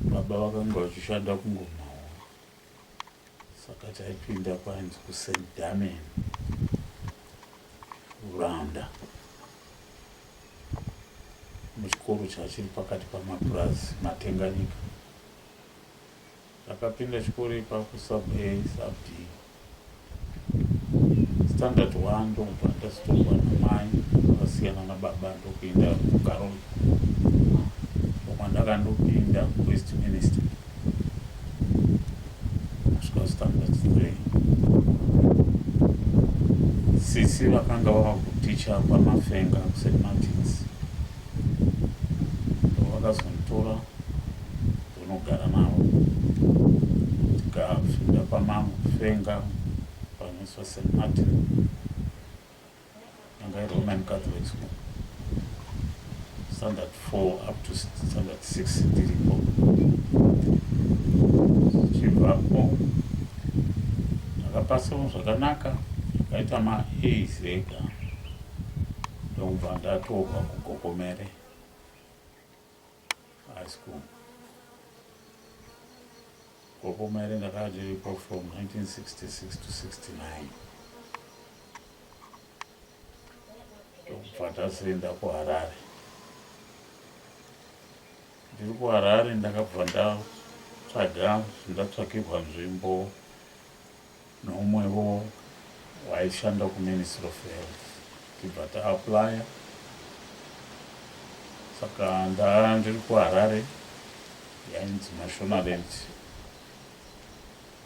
Baba vakanga vachishanda kuNgomahoro saka taipinda kwainzi kuSt Damian Rwanda muchikoro chachiri pakati pamapurazi Matenganyika Ndakapinda chikoro ipapo sub A sub D standard one ndokubva ndazotongwa namai vakasiyana nababa ndokuenda kugaroi kwandakandopinda west minister kusvika standard three sisi vakanga vava kuticha pamafenga kusematics vakazonditora unogara navo tikapinda pamambo fenga panoiswa st martin anga iroman catholic school standard four up to standard six ndiripo zichibvapo ndakapasemo zvakanaka akaita maas ega ndokubva ndatorwa kugogomere high school gopo maire ndakazviriko from 1966 to 69 ndokubva tazoenda kuharare ndiri kuharare ndakabva ndatsvaga zvindatsvakirwa nzvimbo Neumwewo waishanda kuMinistry of Health tichibva taaplaya saka ndanga ndiri kuHarare yainzi Mashonaland.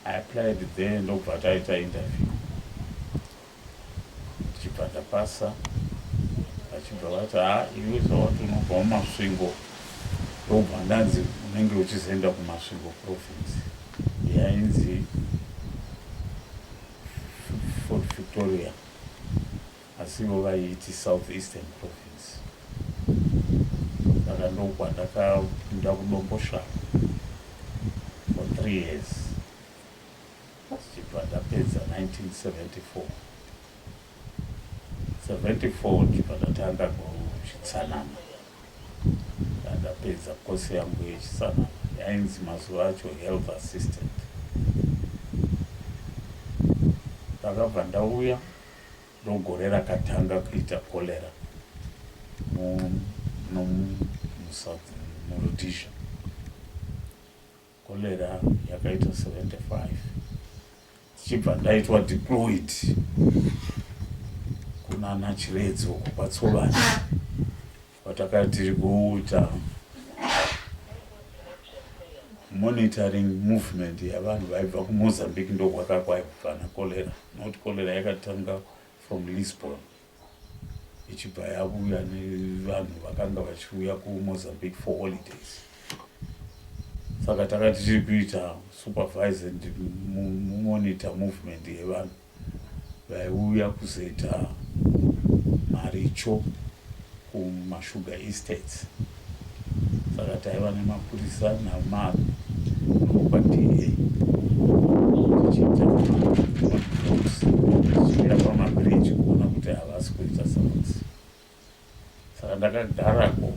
I applied there ndokubva taita interview ndichibva ndapasa vachibva vati ha iwe zvawati unobva muMasvingo ndokubva ndanzi unenge uchizoenda kuMasvingo province. yainzi Fort Victoria asi ivo vaiiti South Eastern Province. Saka ndokwandakapinda kudomboshava for three years tichibva ndapedza 1974 74 ndichibva ndatanga kuchitsanana ndapedza course yangu yechitsanana yainzi mazuva acho health assistant ndakabva ndauya ndogore rakatanga kuita cholera muRhodesia Cholera yakaita 75 tichibva ndaitwa deployed kunana Chiredzo uko kwaTsovani kwatakati tiri kuita monitoring movement yavanhu vaibva kuMozambique ndokwakakwayo kubva naCholera not Cholera yakatanga from Lisbon. ichibva yavuya nevanhu vakanga vachiuya kumozambique for holidays saka takati tiri kuita supervise and monitor movement yevanhu vaiuya kuzoita maricho kuma sugar estates saka taiva nemapurisa namarm nokwa DA tichiita tichienda pamabridge kuona kuti havasi kuita sakuti saka ndakagarako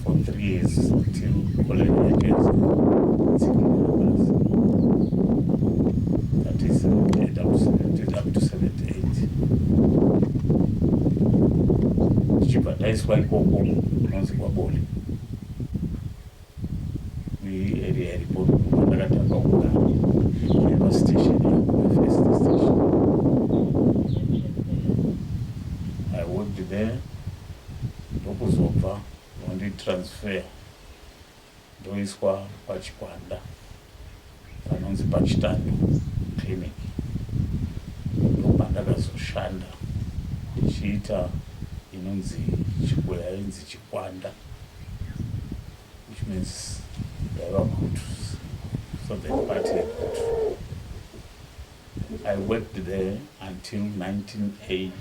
for three years till college yakaisa tsikirira basi that is end up to seventy tichibva taiswa ikoko kunonzi kwabole area iripo ndakatanga kuda eva station first station i worked there ndokuzobva vanditransfer ndoiswa pachikwanda panonzi paChitando Clinic ndopandakazoshanda ndichiita inonzi chikwe yainzi chikwanda which means yaiva kutu so the party yekutu i worked there until 1980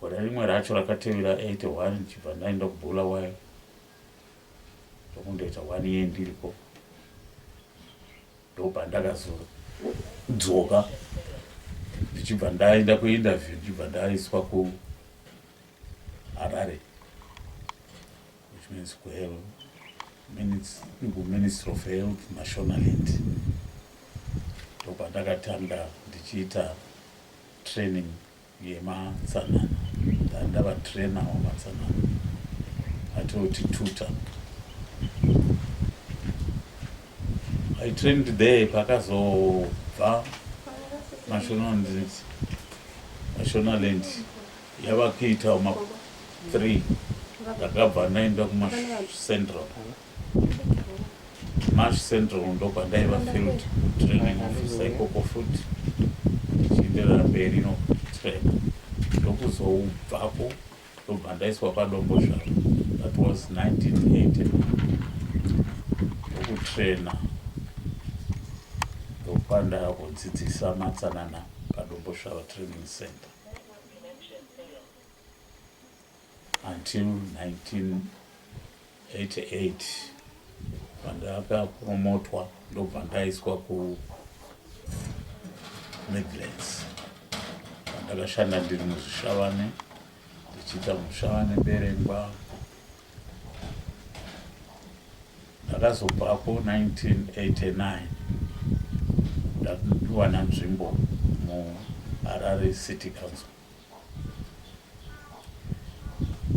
Gore rimwe racho rakatevera 81 ndichibva ndaenda kuBulawayo ndokundoita one year ndiriko ndobva ndakazodzoka ndichibva ndaenda kuinterview ndichibva ndaiswa kuharare which means kuhelo kuministry of health mashonaland ndobva ndakatanga ndichiita training yematsanana ndandava trainer wamatsanana atioti tutor i trained there pakazobva mashonaland yava kuita ma three ndakabva ndaenda kumacentral Mash Central ndopandaiva field training officer ikoko futi ndichienderera mberi nokutrena ndokuzoubvapo ndobva ndaiswa padombo zvaro that was 1980 ndokutrena ndokupandava kudzidzisa matsanana padombo zvaro training center Until 1988 pandakapromotwa ndobva ndaiswa ku Midlands pandakashanda ndiri muzvishavane ndichiita muzvishavane berengwa ndakazobvako 1989 ndapiwana nzvimbo muharare city council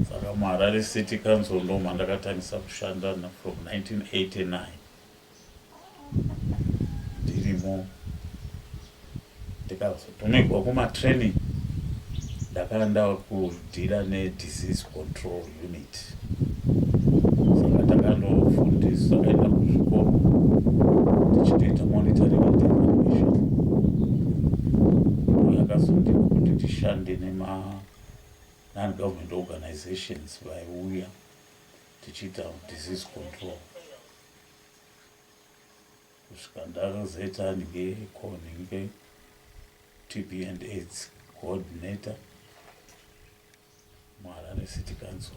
saka muharare city council ndo mandakatangisa kushanda from 1989 ndirimo ndikazotumigwa kumatraining ndakandava kudhira nedisease control Unit. Saka takanofundisa takaenda kuzvikoro tichitoita monitoring and evaluation. Yakazondiko kuti tishande nema non-government organizations vaiuya tichiita disease control kusvika ndakazoita anenge konhinge tb and aids coordinator muHarare City Council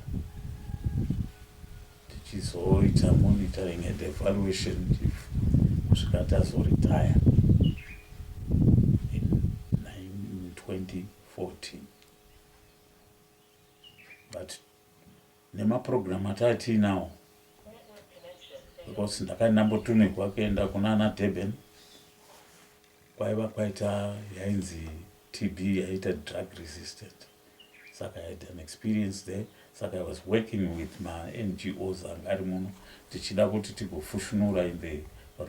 tichizoita monitoring and evaluation kusvika tazoretire in 2014 but nemaprogram ataatiinawo because ndakandambotumigwa kuenda kuna ana durban kwaiva kwaita yainzi tb yaita drug resistant Saka I had an experience there saka I was working with ma NGOs anga ari muno tichida kuti tigofushunura in the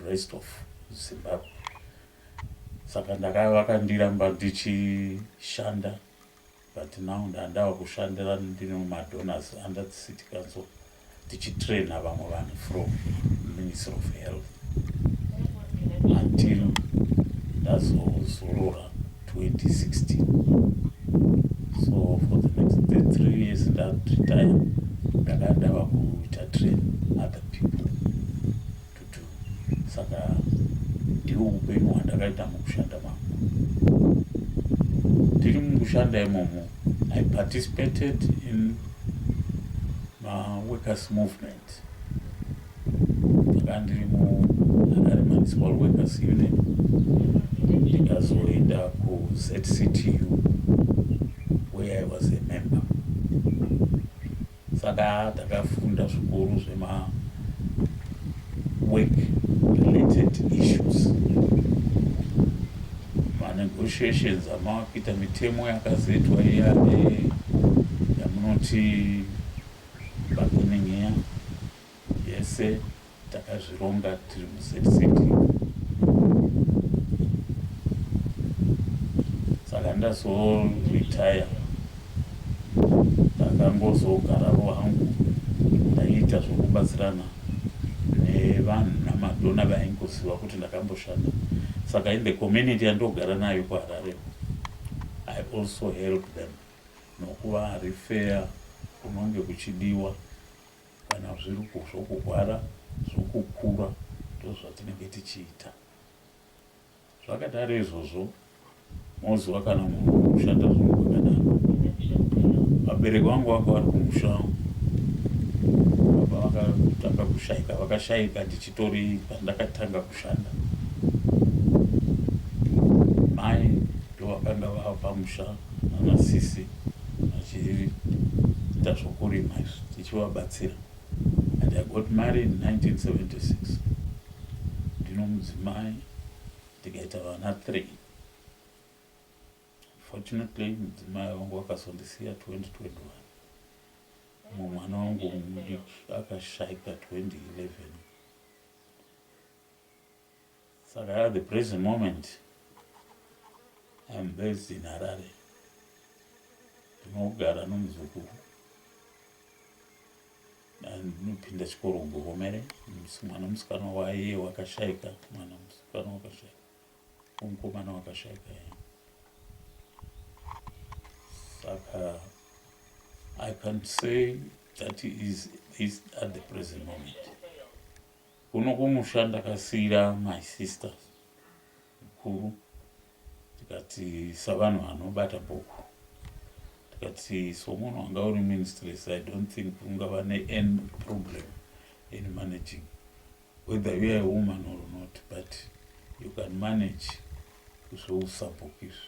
rest of Zimbabwe saka ndaka vakandiramba ndichishanda but now ndandava kushandira ndine madonors under the city council tichitrainer vamwe vanhu from ministry of health until ndazozorora 2016 so for the next the three years ndaretire ndakadava kuita train other people Tutu, saka ndihwo upenyu hwandakaita mukushanda mangu. Ndiri mukushanda imomo, I participated in maworkers movement ndakandiri muHarare Municipal Workers Union ndikazoenda kuZCTU where I was a member Saka takafunda zvikuru zvema work related issues manegotiations amava kuita mitemo yakazetwa iya yamunoti bargaining iya yese takazvironga tiri muZCT saka ndazoretire ndakangozogaravo hangu ndaiita zvokubatsirana nevanhu namadona vaingoziva kuti ndakamboshanda saka in the community yandogara nayo kuharare i also help them nokuva harifeya kunonge kuchidiwa Kana zviri zvokurwara, zvokukura ndozvatinenge tichiita. Zvakadaro izvozvo moziva kana munhu kushata zvinhu kwakadaro. Vabereki vangu vanga vari kumusha baba vakatanga kushaika vakashaika ndichitori pandakatanga kushanda mai ndovakanga vava pamusha nanasisi vachiita zvokurima izvi tichivabatsira and I got married in 1976 ndino mudzimai ndikaita vana three fortunately mudzimai wangu wakazondisiya 2021 mumwe mwana wangu mudiki akashaika 2011 Saka at the present moment I am based in Harare. Ndinogara nomuzukuru ndinopinda chikoro kugogomere mwana musikana waiye wakashaika mwana musikana wakashaika umukomana wakashaika ye saka i can't say that is this at the present moment Kuno kumusha ndakasiira my sister mukuru tikati savanhu vanobata bhuku tikati somunhu wanga uri ministress i don't think ungava nean problem in managing whether youare a woman or not but you can manage zvousabhuku izvi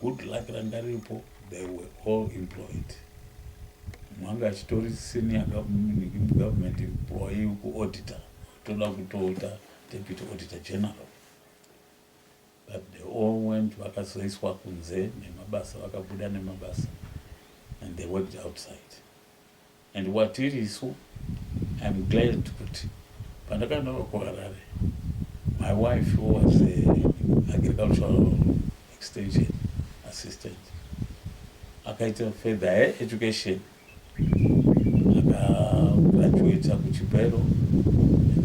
Good luck ranga riripo they were all employed. Mwanga achitori senior government employee kuauditor toda kutoita deputy auditor general but they all went vakazoiswa kunze nemabasa vakabuda nemabasa and they worked outside. And watirisu I'm glad kuti pandakanoka kuHarare my wife was a agricultural extension assistant akaita further her education akagraduata kuchipero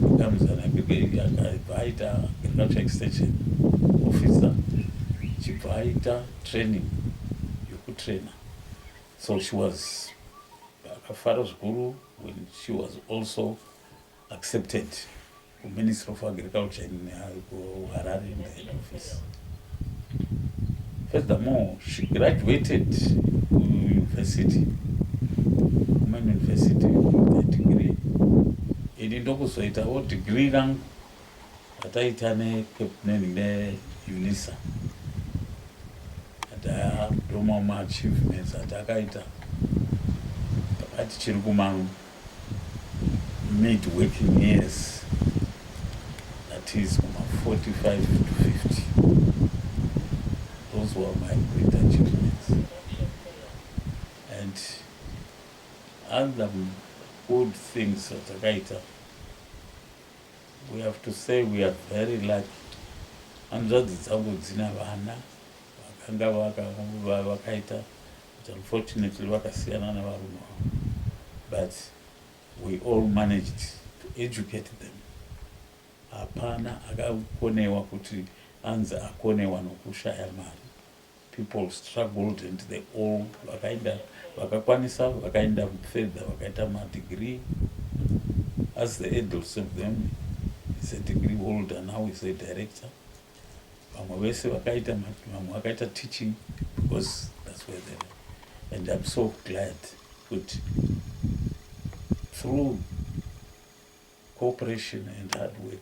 becomes an akaibva aita agricultural extension officer chibva aita training yokutrainer So she was akafara zvikuru when she was also accepted kuministry of agriculture in harare in the head office furthermore she graduated kuuniversity kuman university degree ini ndokuzoitawo degree rangu Pataita neCapman neUNISA ndoma maachievements atakaita pakati chiri kuma mid working years that is kuma 45 to 50 those were my great achievements and other good things atakaita We have to say we are very lucky hanzvadzi dzangu dzina vana vakanga vakaita but unfortunately vakasiyana navarume vavo but we all managed to educate them hapana akakonewa kuti anzi akonewa nokushaya mari People struggled and they all vakaenda vakakwanisa vakaenda further vakaita madegree as the adults of them is a degree holder now is a director vamwe vese vakaita vamwe vakaita teaching because that's where they were and i'm so glad kuti through cooperation and hard work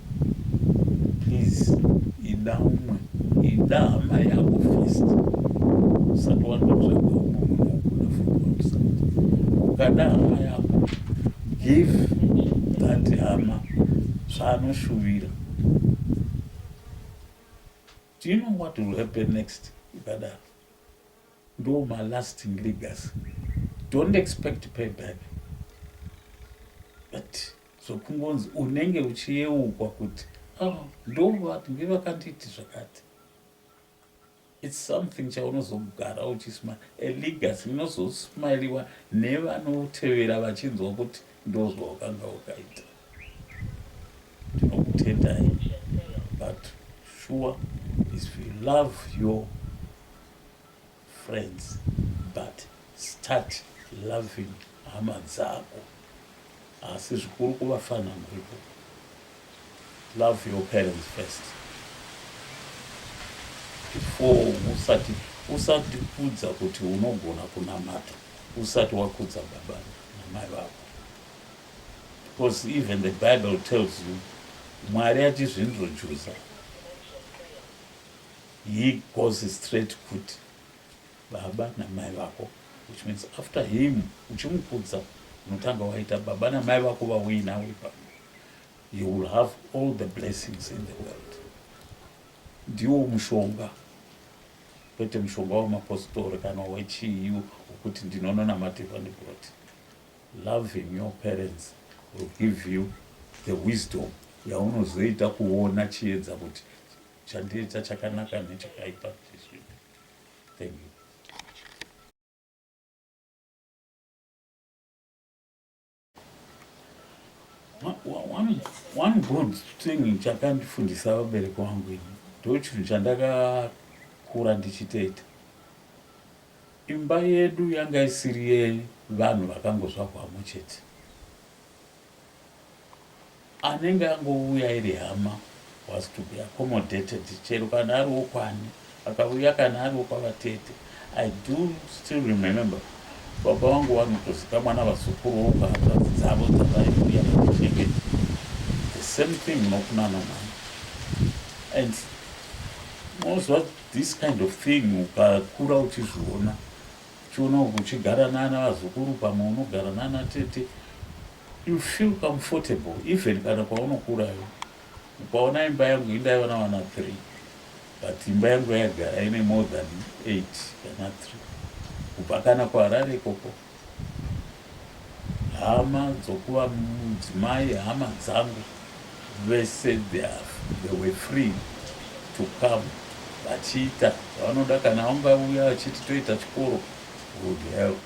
please ida umwe ida hama yako first usati wandotsvaga umwe munhu ukuda from outside ukada hama yako give that hama zvaanoshuvira do you know what will happen next ukadaro ndo malasting legacy don't expect payback but zvokungonzi unenge uchiyeukwa kuti ah, ndovati ngevakanditi zvakati its something chaunozogara uchismile a legacy inozosmiliwa nevanotevera vachinzwa kuti ndozvawakanga wakaita tinokutendai but sure is you love your friends but start loving hama dzako asi zvikuru kuvafanha muripo love your parents first before usati usati kudza kuti unogona kunamata usati wakudza baba namai vako because even the bible tells you mwari achizvinrojuza He goes straight kut baba namai vako which means after him uchimukudza unotanga waita baba namai vako vauyi navo ipapo you will have all the blessings in the world ndiwo mushonga kwete mushonga wemapositori kana wechiyu wekuti ndinononamatirwa ndibroti loving your parents will give you the wisdom yaunozoita kuona chiedza kuti Chandiita chakanaka nechakaipa chezvinhu. Thank you. One, one good thing chakandifundisa vabereki wangu ini ndochinhu chandakakura ndichitoita imba yedu yanga isiri yevanhu vakangozvagwamo chete Anenge angouya iri hama was to be accommodated chero kana ari wokwani akauya kana ari wokwavatete I do still remember baba vangu vanotozikamwa navazukuru vokwahanzvadzi dzavo dzavaiuya vachisheveti the same thing nokunana mwana and moziva this kind of thing ukakura uchizviona Uchiona muchigara nana vazukuru pamwe unogara nana tete you feel comfortable even kana kwaunokura iwe. Ukaona imba yangu indaiva navana three but imba yangu yaigara ine more than eight kana three kubva kana kuHarare ikoko Hama dzokuva mudzimai hama dzangu vese they were free to come vachiita zvavanoda kana vangauya vachiti toita chikoro would help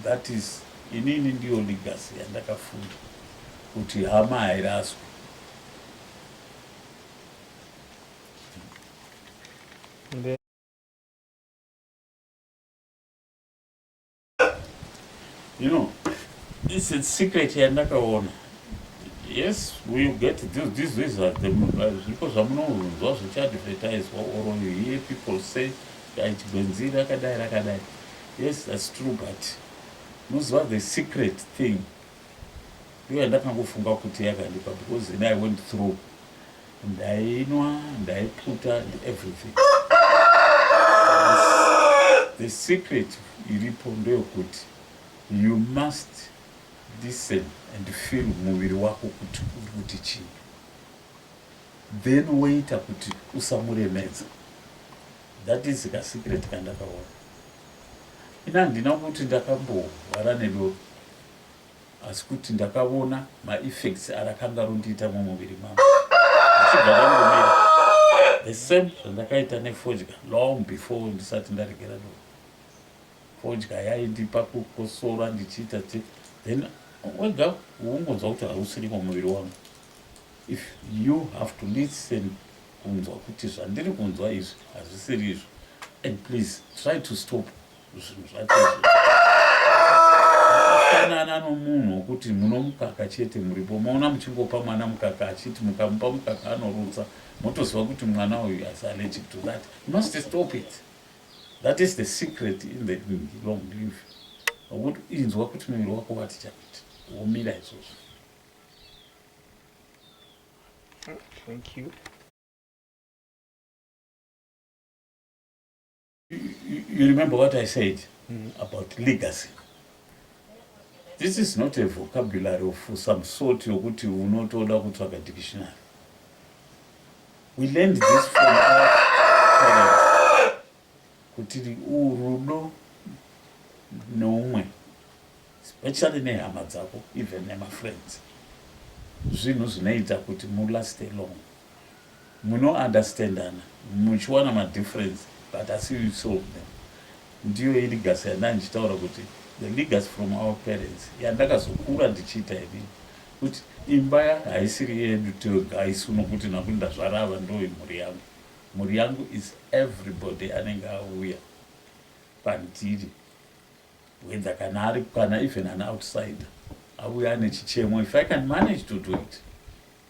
that is inini ndiyo legacy yandakafunda kuti hama hairaswi you know this is secret yandakaona yes we get this this is uh, the uh, zviko zvamunonzwa zvichiadvertiswa or you hear people say dai chigwenzi rakadai rakadai yes that's true but muziva the secret thing ndiyo yandakangofunga kuti yakandipa because then i went through Ndainwa, ndaiputa and everything. The secret iripo ndeyokuti you must listen and feel muviri wako kuti uri kuti chii then woita kuti usamuremedza that is kasecret kandakaona ini handina kuti ndakamborwara nedoro Asi kuti ndakavona ma effects arakanga rondiita mumuviri mangu zvichibva zvangomira the same zvandakaita nefodya long before ndisati ndaregera doro. Fodya yaindipa kukosora ndichiita te then wega ungonzwa kuti hausirimo muviri wangu. If you have to listen kunzwa kuti zvandiri kunzwa izvi hazvisiri izvo and please try to stop zvinhu zvacho zvakafanana nomunhu wokuti munomukaka chete muripo maona muchingopa mwana mukaka achiti mukamupa mukaka anorutsa motoziva kuti mwana uyu is allergic to that you must stop it that is the secret in the long live nokuti inzwa kuti muviri wako wati chakuti womira izvozvo thank you You remember what I said mm. about legacy. This is not a vocabulary of some sort yokuti unotoda kutsvaga dictionary. We learned this from our parents. Kuti urudo noumwe, especially nehama dzako, even nemafriends. Zvinhu zvinoita kuti mulaste long. Muno understandana muchiwana ma difference but asi you solve them. Ndiyo i legacy yandanga ndichitaura kuti the legacy from our parents yandakazokura ndichiita ini kuti imba haisiri yedu tega isu nokuti nakuti ndazvara ava ndoyi mhuri yangu. Mhuri yangu is everybody anenge auya pandiri whether kana ari kana even an outsider auya ane chichemo if I can manage to do it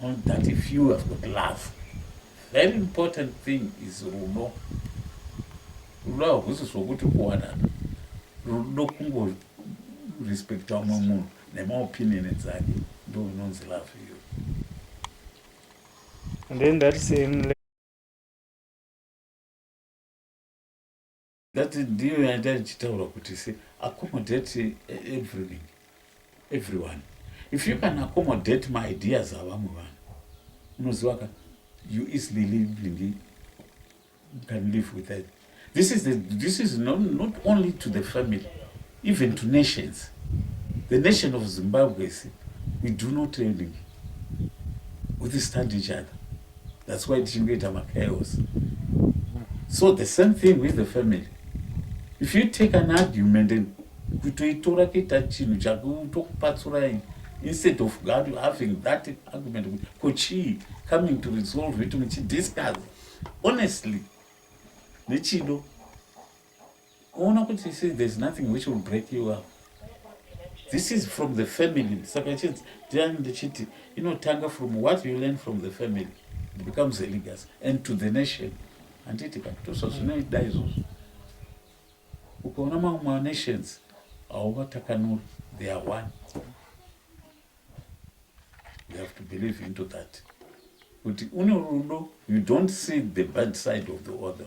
On that if you have got love very important thing is rudo rudo hahusi zvokuti kuwanana rudo kungo respecta umwe munhu nemaopinion dzake ndo inonzi love you and then that same That ndiyo yanda ndichitaura kuti se accommodate eh, everything everyone if you can accommodate my ideas avamwe vanhu unoziva ka you easily living can live with that this is the, this is not, not only to the family Even to nations, the nation of Zimbabwe, we do not training with stand each other. That's why tichingoita machaos. So the same thing with the family. If you take an argument and kutoitora kuita chinhu chakutokupatsurai instead of God having that argument ko chii coming to resolve it muchidiscuss honestly nechido Unoona kuti see there's nothing which will break you up. This is from the family. Saka chinzi ndiani ndichiti inotanga from what you learn from the family it becomes a legacy and to the nation. Handiti ka tosa zvinoida izvozvo. Ukaona mamwe ma nations hauvatakanuri they are one. You have to believe into that. Kuti une rudo you don't see the bad side of the other.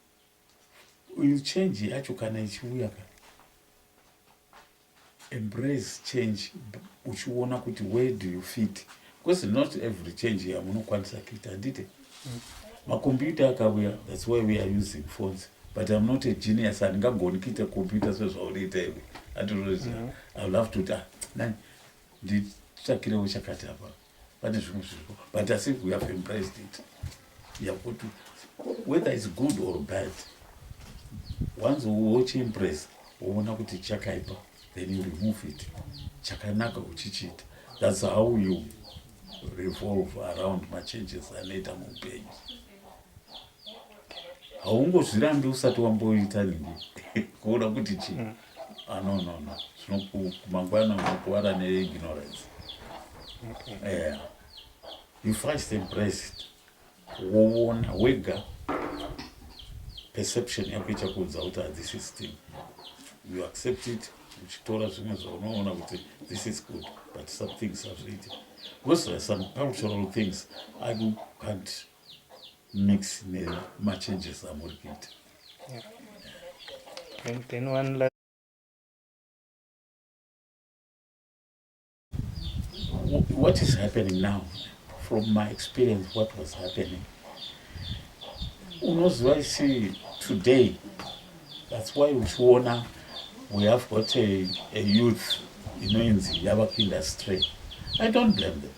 uyu change yacho kana ichiuya ka embrace change uchiona kuti where do you fit because not every change yamunokwanisa kuita handite makombiyuta akavuya thats why we are using phones but im not a genius handingagoni kuita kombiyuta sezvaunoita iwe andinoita mm-hmm. i will have to ta ah, nani nditsvakirewo chakati apaa pane zvimwe zviriko but asi we have embraced it yakuti whether is good or bad once wochiimpress woona kuti chakaipa then you remove it chakanaka uchichiita thats how you revolve around machanges anoita muupenyu haungozvirambi usati wamboita nini kuona kuti chii mm. Ah, no, no, no. Snoku, kumangwana unokuwara neignorance. Yeah. You first embrace it. Woona wega perception yako ichakuudza kuti this is thing. You accept it uchitora zvimwe zvaunoona kuti this is good but some things hazviiti. Because there are some cultural things I can't mix nemachanges amuri kuita what is happening now from my experience what was happening unoziva isi today that's why uchiona we have got a, a youth inoinzi yava kuindustry i don't blame them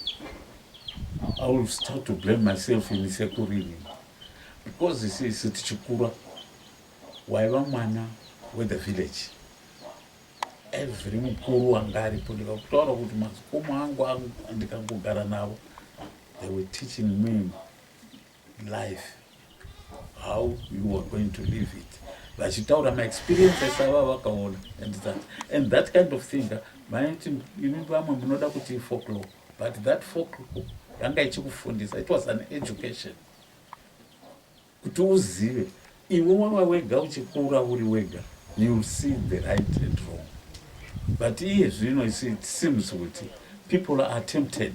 I will start to blame myself in sekuru ini because sisi tichikura waiva mwana wethe village every mukuru wanga aripo ndikakutaura kuti mazikomo angu ndikangogara navo they were teaching me life how you are going to live it vachitaura maexperiences ava vakaona and that and that kind of thing maiti imi vamwe munoda kuti ifoklo but that foklo yanga ichikufundisa it was an education kuti uzive Iwe wava wega uchikura uri wega you'll see the right and wrong but iye zvino you see it seems kuti people are tempted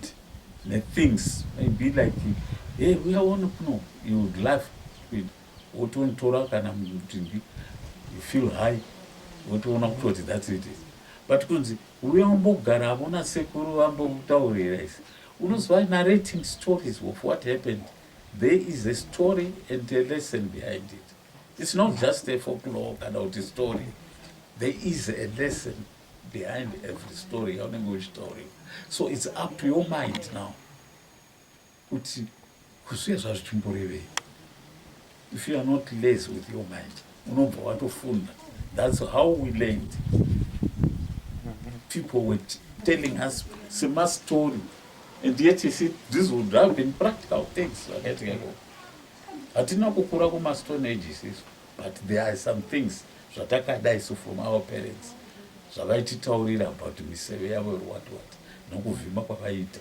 nethings maybe like hey uya one kuno you would laugh wotonotora kana mutingi you feel high wotoona kutoti that's it is but kunzi uya umbogara avona sekuru vambotaurira isi unoziva narrating stories of what happened There is a story and a lesson behind it. It's not just a folklore kana kuti story. There is a lesson behind every story yaunenge uchitaurira. So it's up to your mind now kuti kuzviye zvazvichimborevei. If you are not lazy with your mind, unobva watofunda. That's how we learned. People were telling us same story. And yet you see, this would have been practical things. Hatina kukura kuma stone ages isu. But there are some things zvatakada isu from our parents. Zvavaititaurira about miseve yavo or what what. Nokuvhima kwavaita.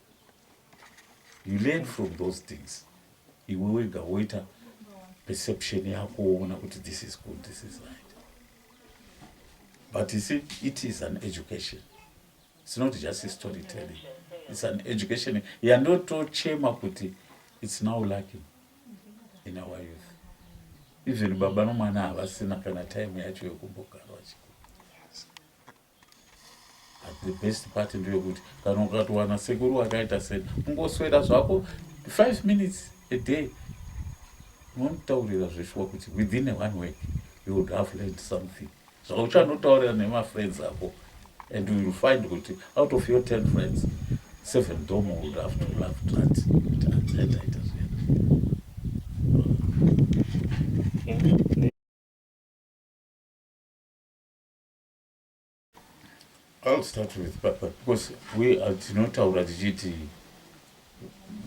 you learn from those things iwe wega woita perception yako woona kuti this is good this is right but you see it is an education it's not just a story telling it's an education yandotochema kuti it's now lacking in our youth even baba nomwana havasina kana time yacho yekumbogara vachikuru the best part ndeyekuti kana ukatowana sekuru wakaita sei ungoswera zvako five minutes a day unomutaurira zveshuwa kuti within a one week you would have learned something zvauchanotaurira nemafriends ako and will find kuti out of your ten friends seven domo would have to love trat ataita zvena I'll start with papa because we are tinotaura tichiti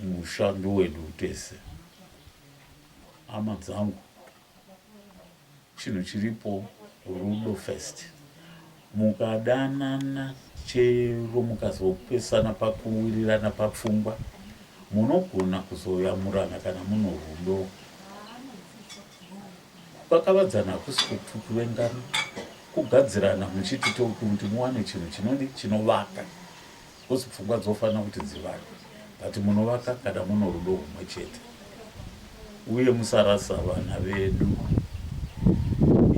musha ndowedu tese hama dzangu chinhu chiripo rudo first mukadanana chero mukazopesana pakuwirirana papfungwa munogona kuzoyamurana kana muno rudo Kukakavadzana hakusi kuvengana, kugadzirana muchiti topi kuti muwane chinhu chinodi chinovaka coz pfungwa dzofanira kuti dzivake but munovaka kana muno rudo humwe chete uye musarasa vana vedu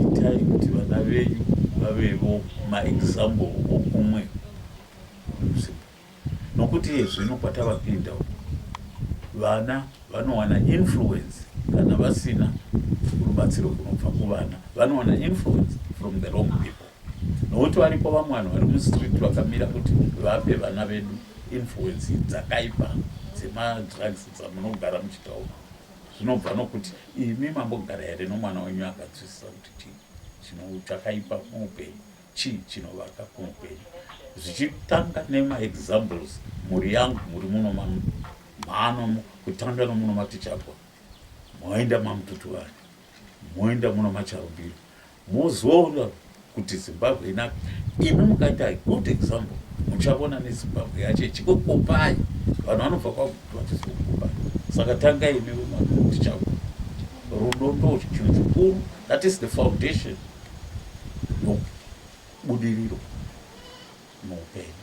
itai kuti vana venyu vavevo maexample okumwe Nokuti iye zvino kwatavapinda uku, vana vanowana influence kana vasina rubatsiro kunobva kuvana, vanowana influence from the wrong people. Nokuti variko vamwe vanhu vari mustreet vakamira kuti vape vana vedu influence dzakaipa dzemadrugs dzamunogara muchitaura. Zvinobva nokuti imi mambogara here nomwana wenyu akanzwisisa kuti chii chino chakaipa muupenyu. Chii chinovaka muupenyu? Zvichitanga nema examples mhuri yangu muri muno mano kutanga nomuno matichagwa moenda mamututuvani moenda muno macharumbiro mozoona kuti zimbabwe inaka imi mukaita good example muchavona nezimbabwe yacho ichikokopai vanhu vanobva kwakutoatizokupai saka tanga imi vematichagwa rudo ndochichinhu chikuru that is the foundation nobudiriro muupenyu.